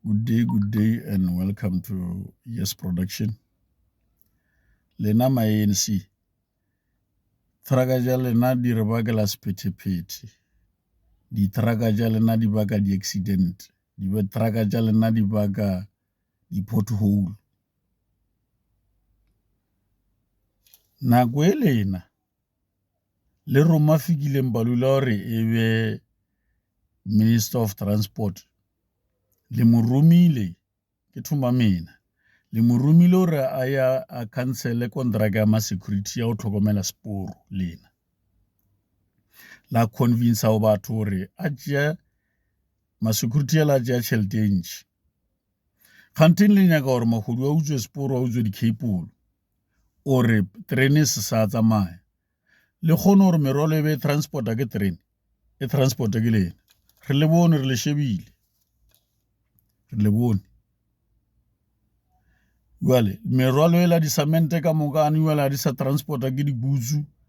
Good day, good day, and welcome to Yes Production. Lena ma ANC, traka ja lena di re bakela sephetephete, diteraka ja lena di baka di-accident, diteraka ja lena di baka di-pothole. Nako e lena Le Roma Fikile Mbalula o re e be Minister of Transport le mo romile ke thoma mina le mo romile gore a ya a cancele kontraka ya masecurity ya go tlhokomela seporo lena la convince go batho gore a tšea masecurity a la tšea tšhelete e ntšhi kganteng le nyaka gore magodu a utswe seporo a utswe dicapolo o re terene se sa tsamaya le kgone gore merwalo e be e transporta ke terene e transporta ke lena re le bone re le shebile re le bone jale merwalo e la disamente ka moka a ne jale ga di sa transporta ke dibutsu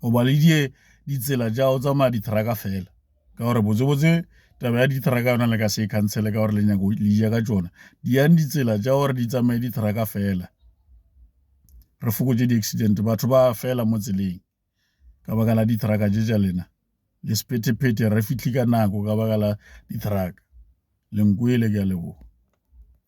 o ba le die ditsela tša go tsamaya dithraka fela ka gore botsebotse taba ya dithraka yona le ka se e khansele ka gore le nyako le ja ka tšona di yang ditsela tša gore di tsamaye dithraka fela re fokotse di-accident batho ba fela mo tseleng ka baka la dithraka tše tša lena le sepethephete re fihle ka nako ka baka la dithraka lenkwele ke a leboga